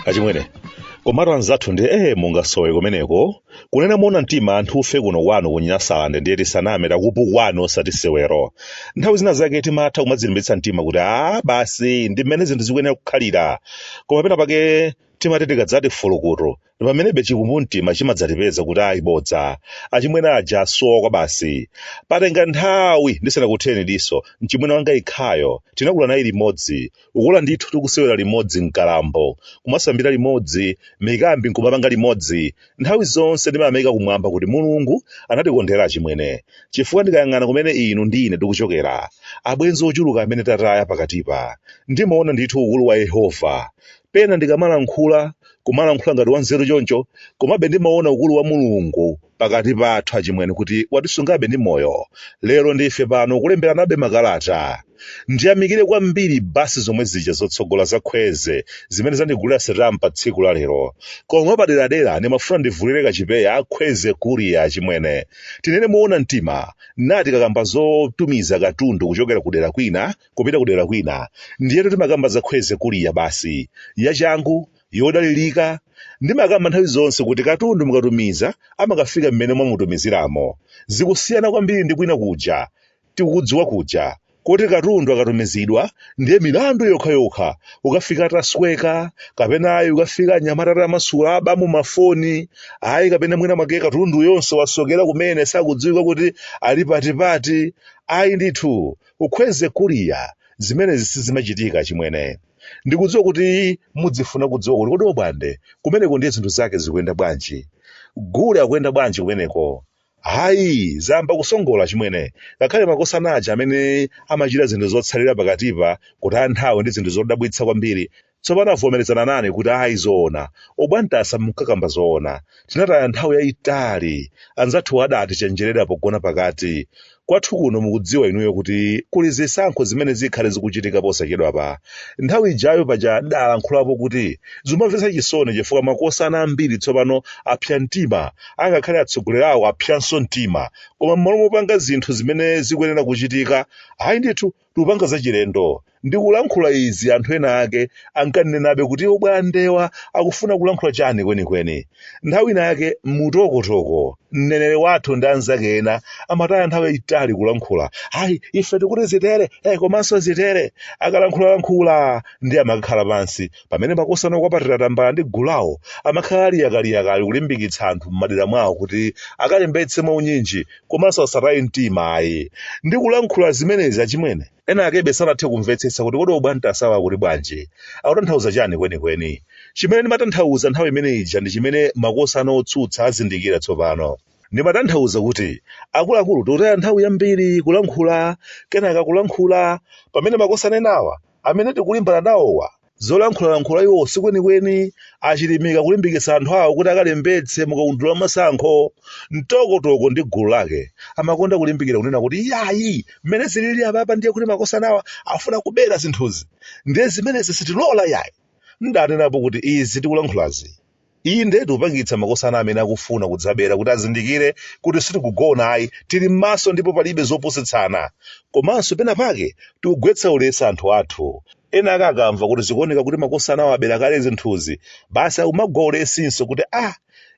achimwene komatu anzathu ndi ee mungasowe kumeneko kunena moona mtima anthufe kuno kwanu kunyasalande ndiye tisaname takupukwani osati sewero nthawi zina zake timatha kumadzilimbitsa mtima kuti a basi ndi mmene zinthu zikuyenera kukhalira koma pena pake timati tikadzati fulukutu pamenebe chikumbumtima chimadzatipeza kuti ayi bodza achimwene aja asowa kwabasi patenga nthawi ndisanakutheni diso mchimwene wanga yekhayo tinakula naye limodzi kukula ndithu tikusewera limodzi mkadambo kumasambira limodzi mikambi nkumapanga limodzi nthawi zonse ndimayamika kumwamba kuti mulungu anatikondera achimwene chifukwa ndikayang'ana kumene inu ndi ine tikuchokera abwenzi ochuluka amene tataya pakatipa ndimaona ndithu ukulu wa yehova pena ndikamalankhula kumalankhula ngati wanzeru choncho komabe ndimaona ukulu wa mulungu pakati pathu achimwene kuti watisungabe ndi moyo lero ndife pano kulemberanabe makalata ndiyamikire kwambiri basi zomwe zija zotsogola za khwezi zimene zandigulira setampa tsiku la lero koma paderadera ndimafuna ndivulire kachipewa akhwezi kuriya achimwene tinene moona mtima tikakamba zotumiza katundu kuchokera kudera kwina kupita kudera kwina ndiyetu timakamba za khwezi kuliya basi yachangu yodalirika ndimakamba nthawi zonse kuti katundu mukatumiza amakafika mmene mwamutumiziramo zikusiyana kwambiri ndi kwina kuja tikukudziwa kuja koti katundu akatumizidwa ndiye milandu yokhayokha kukafika atasweka kapena ayi kukafika anyamata atamasula aba mu mafoni ayi kapena mwina mwake katundu yonse wasokera kumene sakudziwika kuti ali patipati ayi ndithu Kukhwezi Kuria, zimenezi sizimachitika, achimwene. Ndikudziwa kuti mudzifuna kudziwa kuti kodi Obwande kumeneko ndiye zinthu zake zikuyenda bwanji. Gule akuyenda bwanji kumeneko? Hayi, zayamba kusongola, achimwene. Ngakhale makosana aja amene amachita zinthu zotsalira pakatipa, kutaya nthawi ndi zinthu zodabwitsa kwambiri, Tsopano avomerezana nane kuti ayi zoona Obwande munkakamba zoona. Tinataya nthawi yaitali anzathuwo adaatichenjerera pogona pakati. Kwathu kuno mukudziwa inuyo kuti kuli zisankho zimene zikhale zikuchitika posachedwapa. Nthawi ijayo paja ndidaalankhulapo kuti zimamvetsa chisoni chifukwa makosana ambiri tsopano apsa mtima, angakhale atsogoleri awo apsanso mtima. Koma mmalo mopanga zinthu zimene zikuyenera kuchitika, ayi ndithu, Tikupanga zachilendo ndikulankhula izi anthu ena ake ankanenabe kuti obwandewa akufuna kulankhula chani kwenikweni. Nthawi ina yake Mtokotoko mneneri wathu ndi anzake ena amataya nthawi yayitali kulankhula ayi ife tikuti zitere eh, komanso zitere akalankhulalankhula ndiye amakakhala pansi pamene makosana okwapatira tambala ndi gulawo amakhala ali yakaliyakali kulimbikitsa anthu m'madera mwawo kuti akalembetse mwaunyinji komanso asataye mtima ayi. Ndikulankhula zimenezi achimwene. Ena akebe sanathe kumvetsetsa kuti kodi obwande asawa akuti bwanji? Akutanthauza chani kwenikweni? Chimene ndimatanthauza nthawi imene ija ndi chimene makosana otsutsa azindikira tsopano. Ndimatanthauza kuti akuluakulu tikutaya nthawi yambiri kulankhula kenaka kulankhula pamene makosana enawa amene tikulimbana nawowa Zolankhulalankhula iwo si kwenikweni achilimika kulimbikitsa anthu awo kuti akalembetse mu kaundula wa masankho. Mtokotoko ndi gulu lake amakonda kulimbikira kunena kuti iyayi, mmene zilili apapa ndiye kuti makosanawa afuna kubera zinthuzi, ndiye zimenezi sitilola iyayi. Ndanenapo kuti izi tikulankhulazi Inde, tikupangitsa makosana amene akufuna kudzabera kuti azindikire kuti sitikugona ayi, tili m'maso ndipo palibe zopusitsana. Komanso pena pake tikugwetsa ulesi anthu athu. Ena ake akamva kuti zikuoneka kuti makosanawa abera kale zinthuzi, basi akumagwa ulesinso kuti, ah!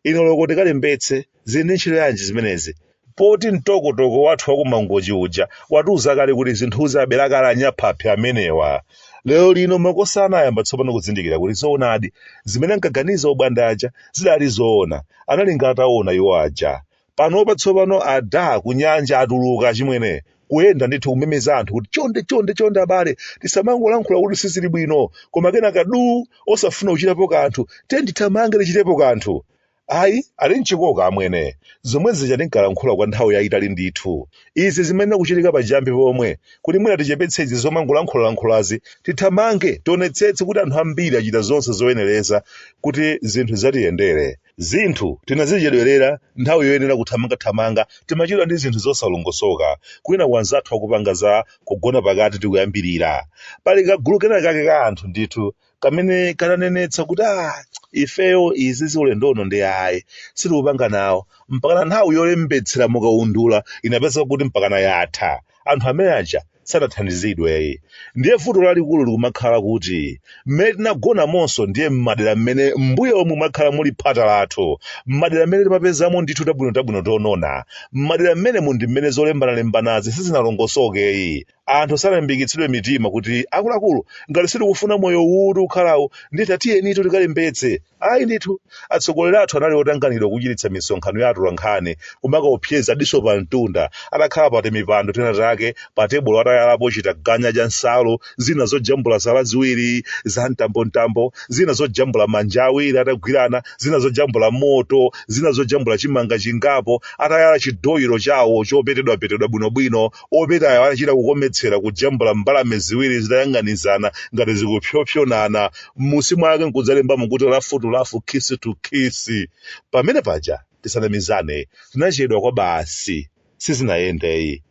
Ine oloko tikalembetse. zili ndi ntchito yanji zimenezi poti mtokotoko wathu wakumangochi uja watiuza kale kuti zinthuzi abera kale anyaphaphi amenewa lero lino makosa anayamba tsopano kuzindikira kuti zoonadi zimene ankaganiza obwande aja zidali zoona analinga ataona iwo aja panopa tsopano ada kunyanja atuluka achimwene kuyenda ndithu kumemeza anthu kuti chonde chonde chonde abale tisamangolankhula kuti sizili bwino koma kenaka du osafuna kuchitapo kanthu tiyeni tithamange tichitepo kanthu Ayi, ali m'chikoka amwene. Zomwe zija ndinkalankhula kwa nthawi yaitali ndithu. Izi zimayenera kuchitika pachiyambi pomwe kuti mwina tichepetse izi zomangolankhulalankhulazi, tithamange tionetsetse kuti anthu ambiri achita zonse zoyenereza kuti zinthu zatiyendere. Zinthu tinazichedwerera, nthawi yoyenera kuthamangathamanga, timachedwa ndi zinthu zosalongosoka. Kwinaku anzathu akupanga za kugona pakati ndi kuyambirira. Pali kagulu kenakake ka anthu ndithu kamene kananenetsa kuti ah, ifeyo izizi ulendo uno ndi ayi sitikupanga nawo mpakana nthawi yolembetsera mukaundula inapezeka kuti mpakana yatha anthu amene aja sanathandizidweyi ndiye vuto lalikulu likumakhala kuti mmene tinagonamonso ndiye mmadera mmene mbuyo omwe mwakhala muli phata lathu mmadera mmene timapezamo ndithu tabwinotabwino tonona mmadera mmenemu ndi mmene zolembanalembanazi sizinalongosokeyi anthu sanalimbikitsidwe mitima kuti akuluakulu ngati sitikufuna moyo uwu ukhalawo ndithu tiyenitu tikalembetse ayi ndithu atsogoleri athu anali otanganidwa kuchititsa misonkhano ya atolankhani kumakaopseza diso pa mtunda atakhala pa timipando tinatake pa tebulo atayalapo chitaganya cha nsalu zina zojambula zala ziwiri za mtambomtambo zina zojambula manja awiri atagwirana zina zojambula moto zina zojambula chimanga chingapo atayala chidoyiro chawo chopetedwapetedwa bwinobwino opetayo anachita kukometsera kujambula mbalame ziwiri zitayang'anizana ngati zikupsopsonana, m'munsi mwake n'kudzalembamo kuti lafu-tu-lafu, khisi-tu-khisi. Pamene paja, tisanamizane, tinachedwa kwabasi. Sizinayende yi.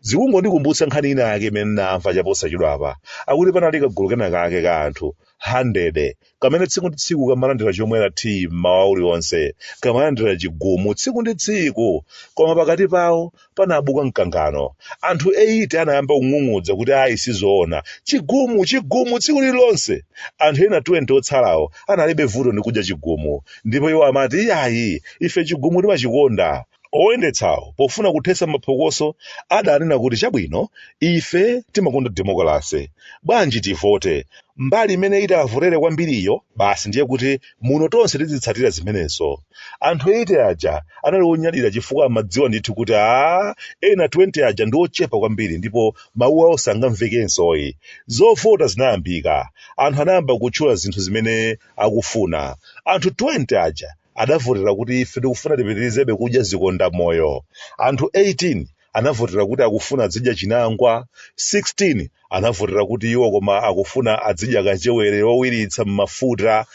Zikungondikumbutsa nkhani inayake imene n'namva chaposachedwapa. Akuti panali kagulu kenakake ka anthu 100 kamene tsiku ndi tsiku kamalandira chomwera tiyi mmawa uliwonse kamalandira chigumu tsiku ndi tsiku koma pakati pawo panabuka mkangano anthu 80 anayamba kung'ung'udza kuti ayi sizoona chigumu chigumu tsiku lililonse anthu ena 20 otsalawo analibe vuto ndi kudya chigumu ndipo iwo amati ayi ife chigumu timachikonda Oyendetsawo pofuna kuthetsa maphokoso adanena kuti chabwino ife timakonda demokalase, bwanji tivote mbali imene itavotere kwambiriyo basi ndiye kuti muno tonse tizitsatira zimenezo. Anthu 80 aja anali onyadira chifukwa amadziwa ndithu kuti a ena 20 aja ndi ochepa kwambiri ndipo mawu awo sangamvekensoyi. Zovota zinayambika. Anthu anayamba kutchula zinthu zimene akufuna. Anthu 20 aja adavotera kuti ife tikufuna tipitirizebe kudya zikondamoyo, anthu 18 anavotera kuti akufuna adzidya chinangwa, 16 anavotera kuti iwo koma akufuna adzidya kachewere wowiritsa m'mafuta,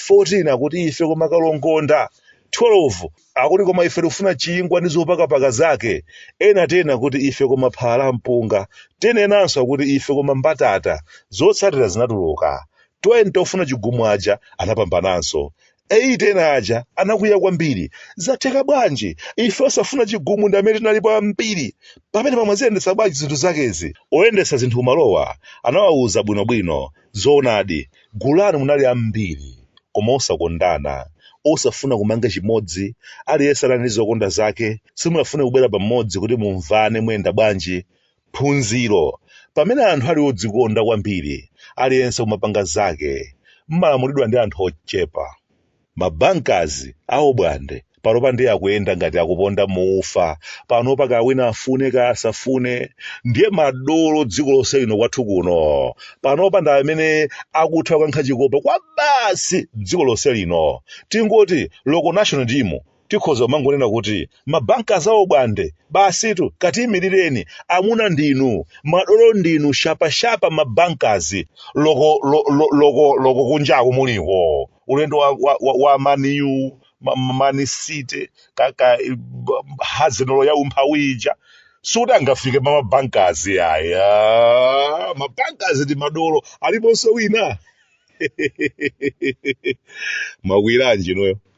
14 akuti ife koma kalongonda, 12 akuti koma ife tikufuna chingwa ndi zopakapaka zake, ena 10 akuti ife koma phala la mpunga, 10 enanso akuti ife koma mbatata. Zotsatira zinatuluka. 20 ofuna chigumu aja anapambananso. 80 ena aja anakwiya kwambiri. Zatheka bwanji? Ife osafuna chigumu ndi amene tinalipo ambiri. Pamenepa mwaziyendetsa bwanji zinthu zakezi? Oyendetsa zinthu kumalowa anawauza bwinobwino. Zoonadi, gulu lanu munali ambiri, koma osakondana, osafuna kumanga chimodzi. Aliyense anali ndi zokonda zake. Simunafune kubwera pamodzi kuti mumvane muyenda bwanji. Phunziro, Pamene anthu ali odzikonda kwambiri, aliyense kumapanga zake, mmalamulidwa ndi anthu ochepa. Ma bankers a Obwande panopa ndiye akuyenda ngati akuponda mu ufa, panopa kaya wina afune kaya asafune, ndiye madolo dziko lonse lino kwathu kuno, panopa ndi amene akutha kukankha chikopa kwabasi dziko lonse lino. Tingoti, local national team Tikhoza kumangonena kuti ma bankers awo bwande basitu katiyimilireni amuna ndinu madolo ndinu shapa shapa ma bankers. loko lo, lo, loko loko kunjaku muliko ulendo wa, wa, wa, wa maniyu ma- ma- man city ka, ka b- Arsenal ya umphawi ija sikuti angafike pa ma bankers aya ma bankers ndi madolo aliponso wina mwakwiyiranji inuyo